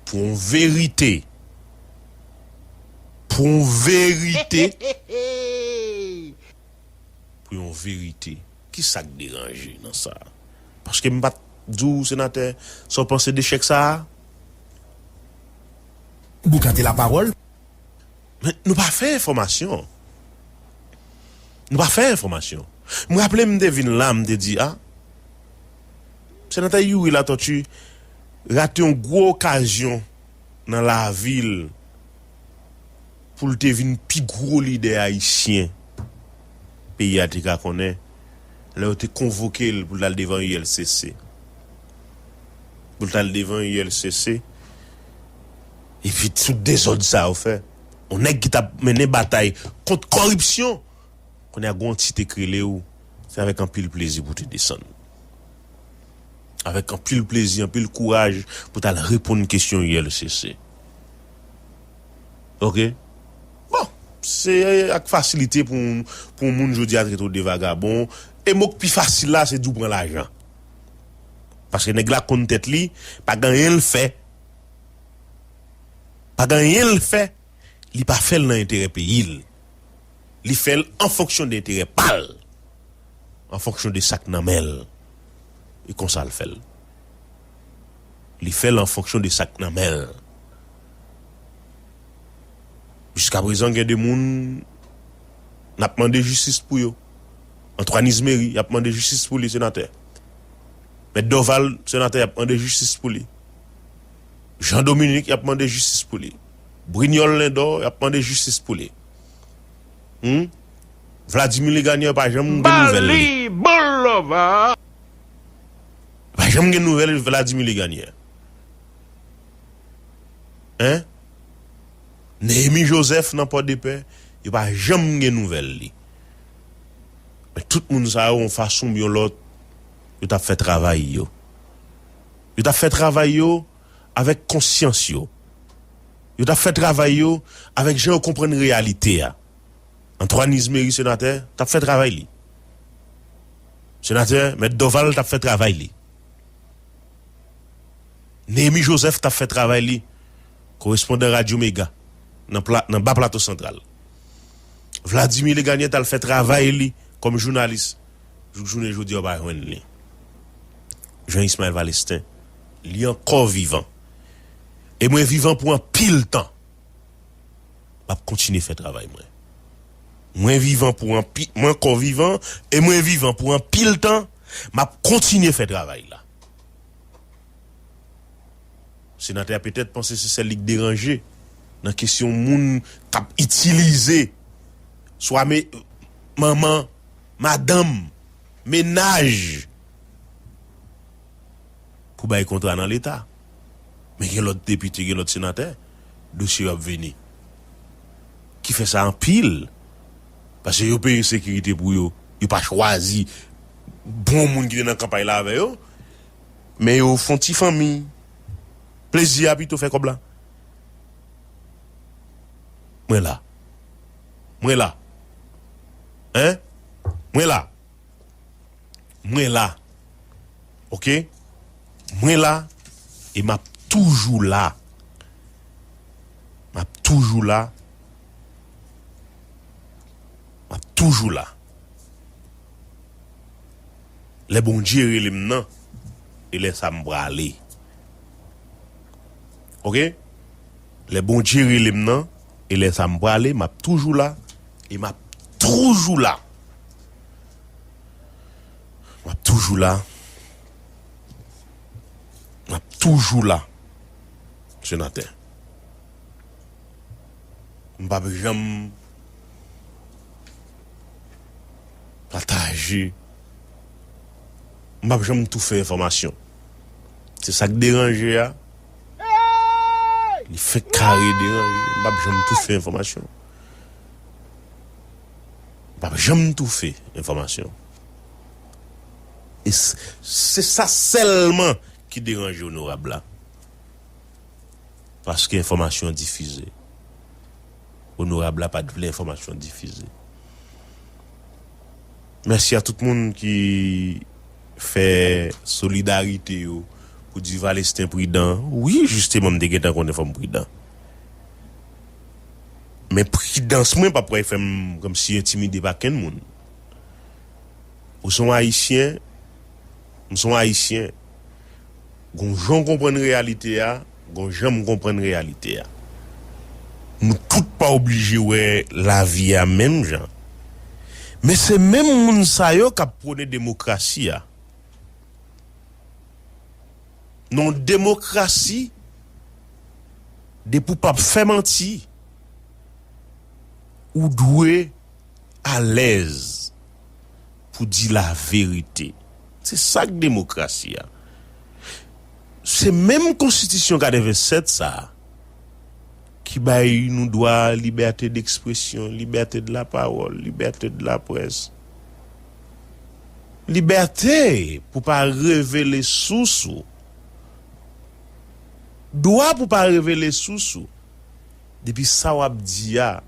Pou on verite Pou on verite Pou yon verite Ki sa k deranje nan sa a? Paske m pa t di w senatè sa w panse de chèk sa a? Bouka te lapawòl. Men, nou pa fè enfòmasyon. Nou pa fè enfòmasyon. M raple m te vin la, m te di a, Senatè Youri Latortue rate yon gwo okazyon nan lavi l pou l te vin pi gwo lidè ayisyen peyi a te ka konnen lè yo te konvoke l pou l t al devan ULCC. Pou l t al devan ULCC. Epi tout dezòd sa yo fè yon nèg ki tap mennen batay kont kòripsyon kounye a gen yon ti tek rele w se avèk anpil plezi pou te desann avèk anpil plezi anpil kouraj pou w tal reponn kesyon ULCC ok bon se ak fasilite pou yon moun jodi a trete w de vagabon e mo k pi fasil la se di w pran lajan paske nèg la konn tèt li pa gen anyen l fè. Pa gen anyen l fè li pa fè l nan enterè peyi l. Li fè l an fonksyon de enterè pa l, an fonksyon de sa k nan men l. E konsa l fè l. Li fè l an fonksyon de sa k nan men l. Jiskaprezan gen de moun n ap mande jistis pou yo. Antwàn Izmeri y ap mande jistis pou li, senatè. Mèt Dòval, senatè y ap mande jistis pou li. Jean Dominique yap mande jistis pou li Brignol Lindor yap mande jistis pou li humm Vladimir Legagneur pa janm gen nouvèl li pa janm gen nouvèl Vladimir Legagneur hein Nehemie Joseph nan Pòdepè yo pa janm gen nouvèl li men tout moun sa yo yon fason oubyen yon lòt yo tap fè travay yo. Yo t ap fè travay yo avèk konsyans yo. Yo t ap fè travay yo avèk jan yo konprann reyalite a. Antoine Izmery, senatè, t ap fè travay li. Senatè Mèt Dorval t ap fè travay li. Néhémie Joseph t ap fè travay li, korespondan Radyo Mega nan Ba Plato Santral. Vladimir Legagnette al fè travay li kòm jounalis. Jouk jounen jodi a ou pa jwenn li. Jean Ismael Valestin. Li ankò vivan. E mwen vivan pou anpil tan. M ap kontinye fè travay mwen. Mwen vivan pou anpi, mwen ankò vivan e mwen vivan pou anpil tan, m ap kontinye fè travay la. Senatè a petèt panse se sèl li k deranje nan kesyon moun k ap itilize swa me, manman. Madanm, mennaj pou bay kontra nan leta. Men gen lòt depite, gen lòt senatè dosye yo ap vini. Ki fè sa anpil. Pase yo peye sekirite pou yo. Yo pa chwazi bon moun ki te nan kanpay la avè yo. Men yo fon ti fanmi. Plezi a pito fè kòb la. Mwen la. Mwen la. Hein? Mwen la. Mwen la. Ok? Mwen la e m ap toujou la. M ap toujou la. M ap toujou la. Lè Bondye rele m nan, e lè sa m prale. Ok? Lè Bondye rele m nan. E lè sa m prale m ap toujou la. E m ap toujou la. M ap toujou la. M ap toujou la. Senatè. M pap janm. Pataje. M pap janm toufe enfòmasyon. Se sak deranje a. Li fenk kare deranje. M pap janm toufe enfòmasyon. M pap janm toufe enfòmasyon. E se sa sèlman ki deranje onorab la. Paske enfòmasyon difize. Onorab la pat vle enfòmasyon difize. Mèsi a tout moun ki fè solidarite yo pou Duvalesten pridan wi jisteman m te gentan konnen fòm pridan men pridans mwen pap kwè fèm kòmsi entimide pa kenn moun ou son ayisyen m son ayisyen. Gon jan w konprann reyalite a, gon jan m konprann reyalite a. Nou tout pa oblije wè lavi a menm jan. Men se menm moun sa yo k ap pwone demokrasi a. Non demokrasi, depi w p ap fè manti, ou dwe alèz pou di la verite. Se sa k demokrasi a. Se menm konstitisyon 87 sa a ki bay nou dwa libète dekspresyon, libète de la pawòl, libète de la près, libète pou pa revele sous ou, dwa pou pa revele sous ou. Depi sa wap di a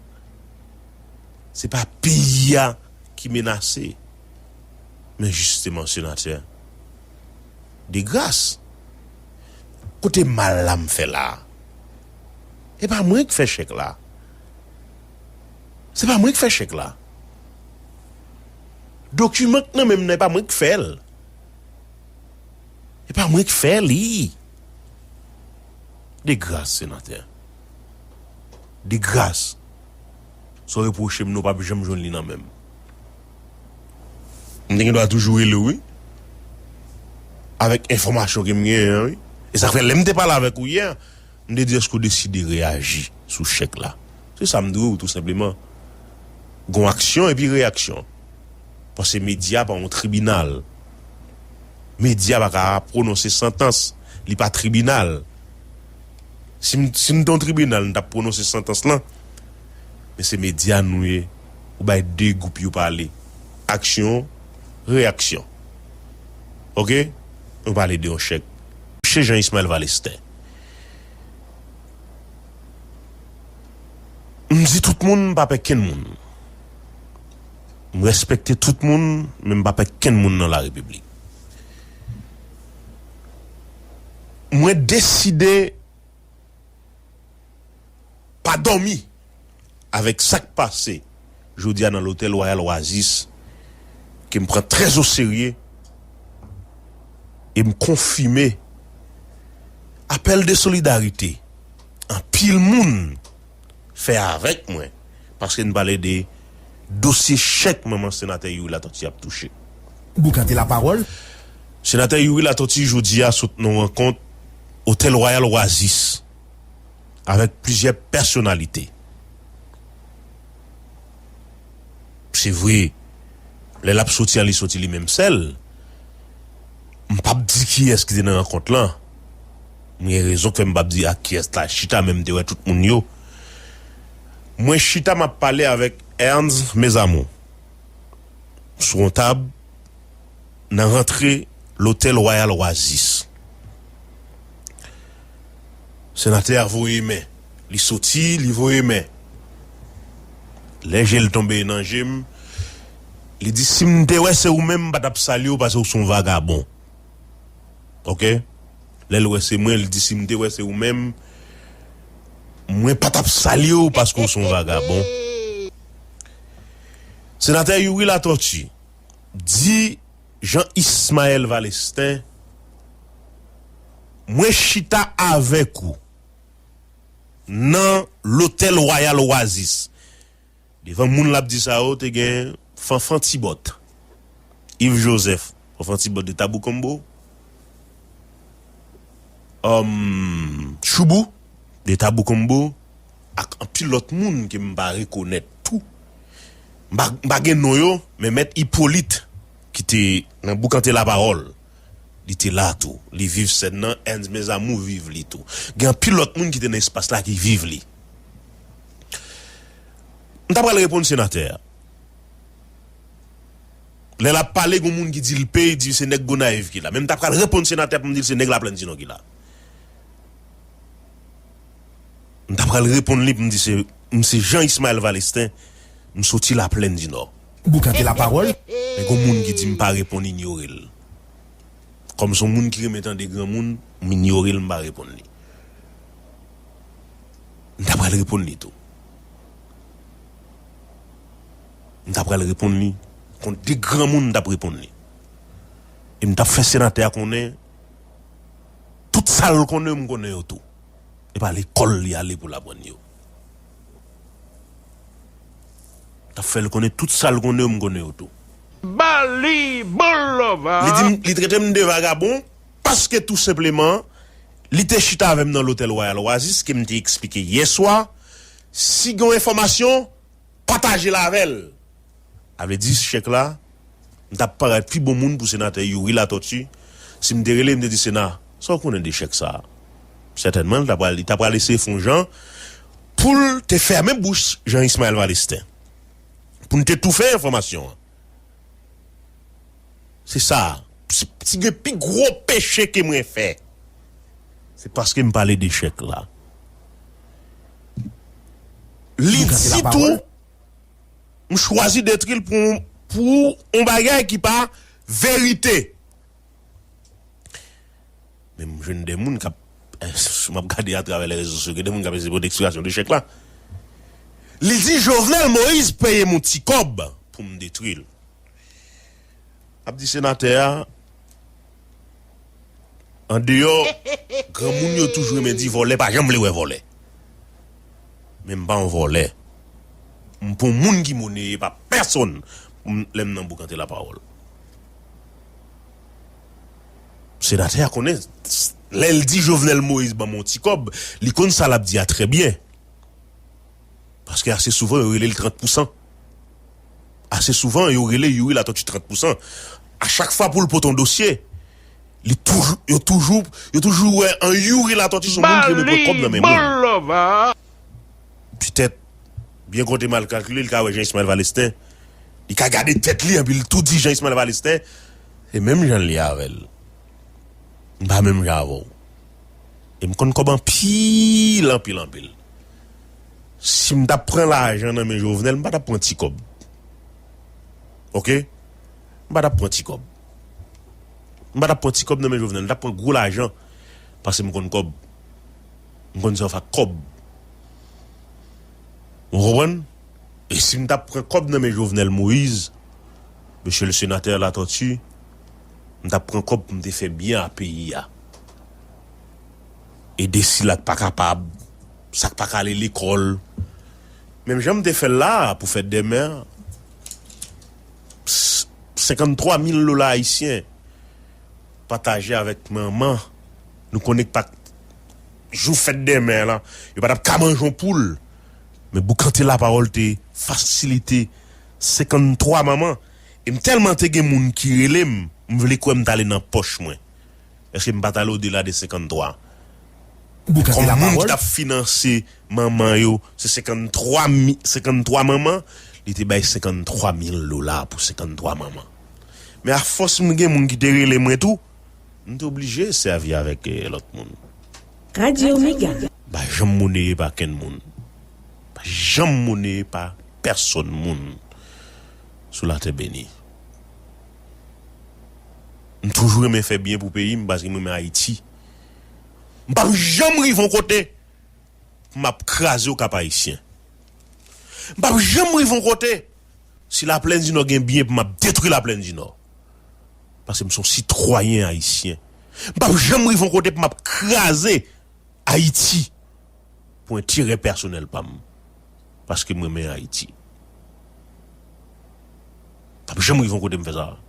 se pa peyi a ki menase men jisteman senatè de gras kote mal la m fè la e pa mwen k fè chèk la se pa mwen k fè chèk la dokiman k nan menm nan e pa mwen k fè l e pa mwen k fè li. De gras senatè. De gras. Sa w repwoche m nan w pap janm jwenn li nan men m. M te gen dwa toujou rele w wi. Avèk enfòmasyon ke m genyen an wi. E sa k fè lè m te pale avèk ou yè, m te di èske w deside reyaji sou chèk la. Se sa m di w tou senpleman. Gon aksyon epi reyaksyon. Pase medya pa yon tribinal. Medya pa ka pwononse santans. Li pa tribinal. Si nou te yon tribinal, nou t ap pwononse santans lan. Men se medya nou ye. Ou bay 2 gwoup yo pale. Aksyon, reyaksyon. Ok? Nou pale de yon chèk. Msye Jean Ismael Valestin. M di tout moun m pa pè kenn moun. M respekte tout moun men m pa pè kenn moun nan la repiblik. Mwen deside pa dòmi avèk sa k pase jodi a nan lotèl Royal Oasis ke m pran trè o serye e m konfime apèl de solidarite anpil moun fè avèk mwen paske n pale de dosye chèk manman senatè Youri Latortue ap touche. Boukante lapawòl. Senatè Youri Latortue jodi a sot nan rankont Otèl Wayal Wazis avèk plizyè pèsonalite. Se vre lè l ap soti a li soti li menm sèl. M p ap di kiyès ki te nan rankont lan. Mwen gen rezon fèm pap di ak kiyès la chita menm te wè tout moun yo mwen chita map pale avèk Ernz mes amour sou yon tab nan rantre lotèl wayal oasis senatè a voye men li soti li voye men lè jel tonbe nan jem li di sim te wè se ou menm m patap salyew paske ou son vagabon. ok lèl wè se mwen li di sim te wè se ou menm mwen pa tap salyew paske ou son vagabon Senatè Youri Latòti di Jean Ismael Valestin mwen chita avèk ou nan lotèl Royal Oasis. Devan moun l ap di sa yo te gen Fanfan Tibòt, Iv Jozèf, Fanfan Tibòt de Taboukonmbo, Òm Choubou de Taboukonmbo ak anpil lòt moun ke m pa rekonèt tou. M pa m pa gen non yo men Mèt Ipolit ki te nan Boukante Lapawòl li te la tou. Li viv sèn nan, Ernst Mes Amours viv li tou. Gen anpil lòt moun ki te nan espas la ki viv li. M ta pral reponn senatè a. Lè lap pale gon moun ki di l pay di se nèg Gonayiv ki la. Men m ta pral reponn senatè a pou m di l se nèg Laplèn Tinon ki la. M ta pral reponn li pou m di se m se Jean Ismael Valestin m soti Laplèn Dinò. Boukante lapawòl men gon moun ki di m pa reponn inyore l. Kòm son moun ki renmen tande granmoun m inyore l m pa reponn li. m ta pral reponn li tou. M ta pral reponn li kon de granmoun m tap reponn li. E m tap fè senatè a konnen tout sa l konnen m konnen yo tou. E pa lekòl li ale pou l aprann yo. M tap fè l konnen tout sa l konnen yo m konnen yo tou. Ba li bon love a! Li di m, li trete m de vagabon. Paske tou senpleman, li te chita avè m nan lotèl Royal Oasis ke m te eksplike yè swa, si gen yon enfòmasyon, pataje l avè l. Sa vle di, chèk la, m t ap parèt pi bon moun pou Senatè Youri Latortue, si m te rele m te di, Sena, sa w konnen de chèk sa a? Sètènman, li ta pral eseye fè yon jan pou l te fèmen bouch Jean Ismael Valestin, pou n te toufe enfòmasyon an. Se sa, si gen pi gwo peche ke mwen fè, se paske m pale de chèk la. Li di tou, M chwazi detri l pou yon bagay ki pa verite. Men m jwenn de moun k ap, m ap gade atravè lè rezo sosyo, gen de moun k ap eseye pote eksplikasyon de chèk la. Li di Jovenel Moïse peye m yon ti kòb pou m detwi l. M ap di senatè a, an deyò granmoun yo toujou renmen di vòlè pa janm vle wè vòlè. Men m pa yon vòlè. M pa yon moun ki moneye pa pèsonn pou m lè m nan boukante lapawòl. Senatè a konnen lè l di Jovenel Moïse ban m yon ti kòb, li konn sa l ap di a trè byen. Paske ase souvan yo rele l 30 pousan. Ase souvan yo rele Youri Latortue 30 pousan. A chak fwa pou l pote yon dosye, li toujou, yo toujou, yo toujou wè an Youri Latortue se yon moun ki renmen pran kòb nan men moun. petèt byen konte mal kalkile li ka wè Jean Ismael Valestin li ka gade tèt li epi li tou di Jean Ismael Valestin se menm jan li avèl m pa menm jan avèw e m konn kòb anpil anpil anpil si m tap pran lajan nan men Jovenel m pa tap pran ti kòb ok m pa tap pran ti kòb m pa tap pran ti kòb nan men Jovenel m tap pran gwo lajan paske m konn kòb. m konn sa w fè ak kòb ou konprann e si m ta pran kòb nan men Jovenel Moïse Mesye le Sénateur Latortue m ta pran kòb pou m te fè byen a peyi a ede sila k pa kapab sa k pa ka ale lekòl menm jan m te fè l la a pou fèt dè mè 53 mil dola ayisyen pataje avèk manman Nou konnen ke pat jou fèt demè a lan, yo pa tap ka manje yon poul. Men boukante lapawòl te fasilite 53 manman e m tèlman te gen moun ki rele m, m vle kwè m t ale nan pòch mwen. Èske m pa t ale odela de 53? Boukante lapawòl. Kòm moun ki t ap finanse manman yo se 53 mi, 53 manman, li te bay 53 mil dola pou 53 manman. Men afòs m gen moun ki te rele mwen tou, M t oblije sèvi avèk lòt moun. Radio mega. M pa janm moneye pa kenn moun. M pa janm moneye pa pèsonn moun sou latè beni. M toujou renmen fè byen pou peyi m paske m renmen Ayiti. M pap janm rive yon kote pou m ap kraze okap ayisyen. M pap janm rive yon kote. Si la plèn dinò gen byen pou map detwi la plèn dinò paske m son sitwayen ayisyen m pap janm rive yon kote pou map kraze ayiti pou enterè pèsonèl pam paske m renmen ayiti m pap janm rive yon kote m fè sa m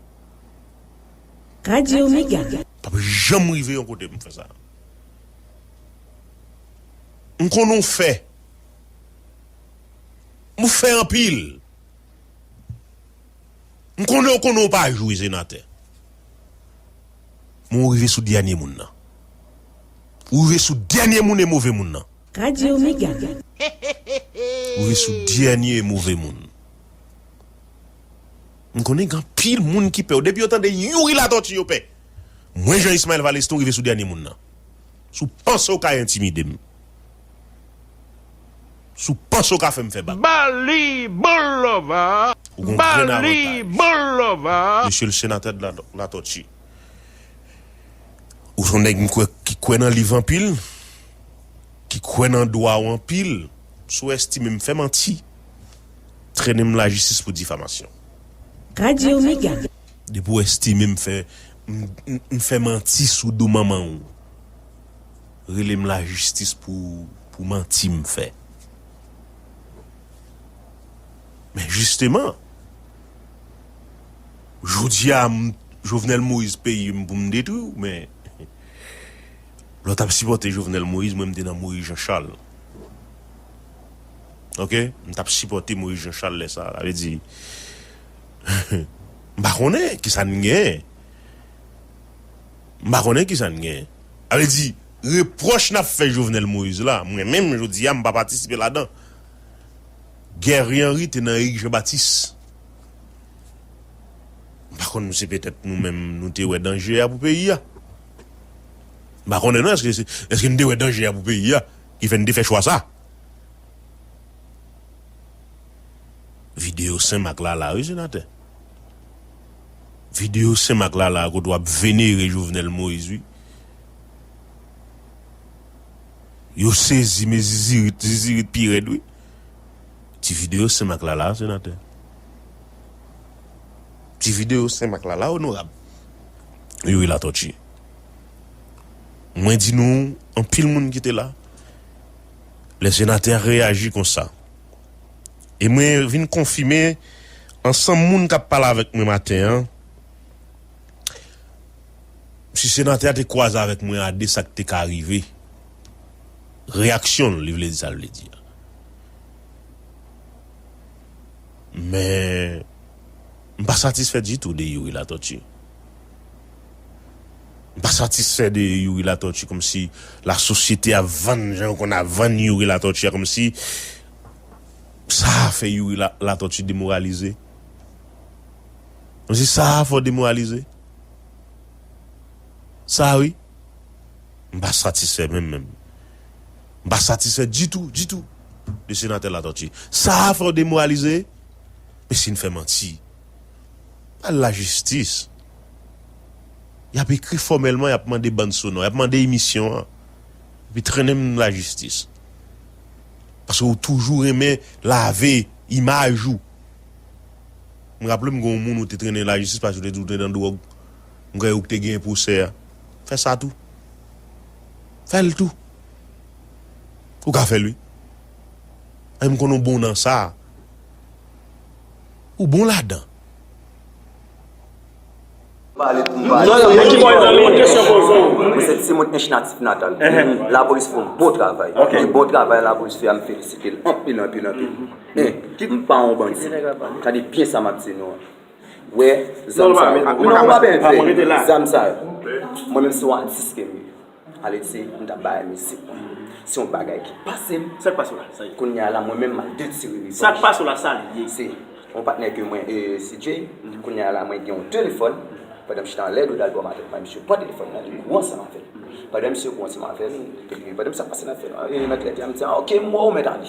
pap janm rive yon kote m fè sa m konn ou fè. Moufe anpil. M konnen w konnen w pa jwe senatè. Men w rive sou dènye moun nan. Ou rive sou dènye moun e move moun nan. Radio mega. Ou rive sou dènye e move moun. M konnen gen anpil moun ki pè w. Depi yo tande Youri Latortue yo pè. Mwen Jean Ismael Valestin ou rive sou dènye moun nan. Si w panse w ka entimide m. Si w panse w ka fè m fè bak. Bali bon lova, Bali bon lova. Mesye le Sénateur de la Latortue, ou son nèg m kwè ki kwè nan liv anpil, ki kwè nan dwa w anpil, sou estime m fè manti, trennen m lajistis pou difamasyon. Radio Mega. Depi w estime m fè, m fè manti sou do manman w. Relem la jistis pou pou manti m fè. Men jisteman. Jodia m Jovenel Moïse peyi m pou m detwi w men lè w tap sipòte Jovenel Moïse mwen m te nan Moïse Jean Charles. Ok m tap sipòte Moïse Jean Charles lè sa sa vle di m pa konnen kisa n gen. M pa konnen kisa n gen. A vle di, repwòch n ap fè Jovenel Moïse la, mwen menm jodi a m pa patisipe ladan. Guerrier Henry te nan Éric Jean Baptiste. M pa konn se petèt nou menm nou te wè danje a pou peyi a. M pa konnen non èske se, èske n te wè danje a pou peyi a ki fè n te fè chwa sa. Videyo Senmak la la wi senatè. Video sem ak lala a kote wap venere jovenel moise wi yo sezi men zizirit zizirit pi rèd wi ti video sem ak lala a senatè. Ti video sem ak lala onorab youri latòti mwen di nou anpil moun kite la lè senatè a reyaji konsa. E mwen vin konfime ansanm moun kap pale avèk mwen maten an, si senatè a te kwaze avèk mwen a de sak te ka rive, reyaksyon l li vle di sa l vle di a. Men m pa satisfè ditou de Youri Latòti. M pa satisfè de Youri Latòti kòmsi la sosyete ap vann jan yo konn ap vann Youri Latòti a kòmsi. Saa fè youri latòti demoralize msi saa fò demoralize saa wi mpa satisfè menm menm mpa satisfè ditou ditou de senatè latòti saa fè w demoralize msi n fè manti al lajistis yap ekri fòmèlman yap mande bann sonò yap mande emisyon an epi trennen m lajistis. Paske ou toujou renmen lave imaj ou. M raple m gen yon moun ou te trennen lajistis paske ou te di ou te nan dwòg. M kwè ou ki te genyen pwosè a. Fè sa tou. Fè l tou. Ou ka fè l wi. E m konnen ou bon nan sa. Ou bon ladan. Pale pou m pale. Mwen se timoun ench natif natal. Lapolis fè yon bon travay. E bon travay lapolis fè a m felisite l anpil anpil anpil. Men, m pa yon bandi. Tande byen sa m ap di nou an. Wè zam sa yo. Zam sa yo. Mwen menm se yon atis ke m ye. Aled se m tap bay misik mwen se yon bagay ki pasem kounya la mwen menm map detire revanj se yon patnè ke mwen e si Jay kounya la mwen gen yon telefòn pandan m chita anlè do dalbòm avèl la misye pran telefòn nan li kou ansanm avèl pandan misye kou ansanm avèl pandan misye ap pase nan trèt la misye di a ok m wè w mèt ale.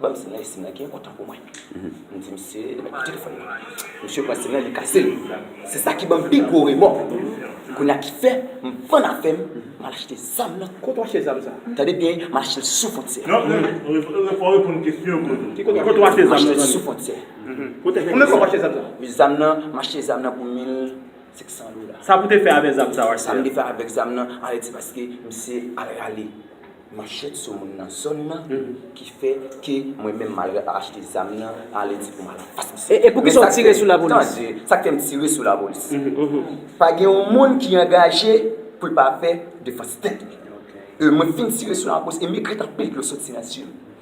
Banm sim nan e sim nan gen otan pou mwen m di misye li mèt pran telefòn nan misye pran sim nan li kasel se sa ki banm pi gwo remò kounya ki fè m vann afèm m al achte zam nan kote w achte zam sa tande byen m al achte l sou fontyè kote w achte zam nan sou fontyè konbyen fwa w achte zam sa wi zam nan m achte zam nan pou 1500 dola sa pou te fè avè zam sa w achte sa m te fè avèk zam nan ale di paske misye al rale. manchèt sou moun nan zòn nan ki fè ke mwen menm mal achte zam nan ale di pou malak pas misye. E pou kisa ou tire sou lapolis? Tande, sa k fè m tire sou lapolis? Pa gen yon moun ki angaje pou l pa fè defans tèt li. E mwen fin tire sou lapolis e m ekri t anpil dlo soti nan zye m.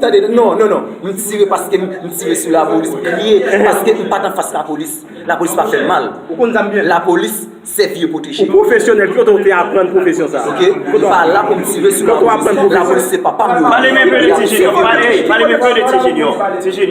Tande non non non m tire paske m tire sou lapolis m kriye paske m pat anfas lapolis lapolis pa fèm mal lapolis se vye pwoteje m pa la pou m tire sou lapolis lapolis se papa m yo vye pwoteje m.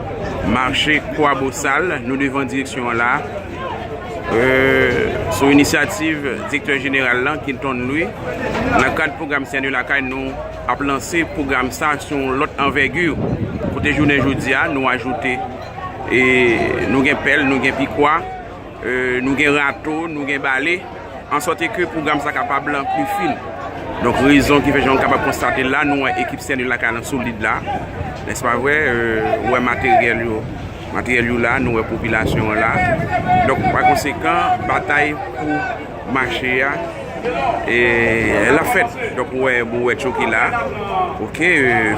Mache Kwabosal, nou devan direksyon an la a, sou inisyativ Direktè Jeneral lan, Kilton Louis, nan kad pwogram Sène Lakay nou ap lanse pwogram sa sou yon lòt anvègi, kote jounen jodi a nou ajoute, nou gen pèl, nou gen pikwa. Nou gen rato, nou gen bale, an sòti ke pwogram sa kapab lan pli fin. Donk rezon ki fè jan nou kapab konstate la, nou wè ekip Saint Louis lakay lan solid la. Nèse pa vre, ou wè materyèl yo, materyèl yo la, nou wè popilasyon an la. Donk pa konsekan, batay pou Mache a la fèt donk ou wè bouwèt yo ki la ok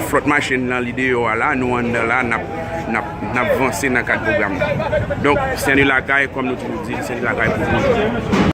flòt machin nan li deyò a la nou anndan la nap vanse nan kad pwogram nan donk sen de lakay kòm nou toujou di sen de lakay pou toujou.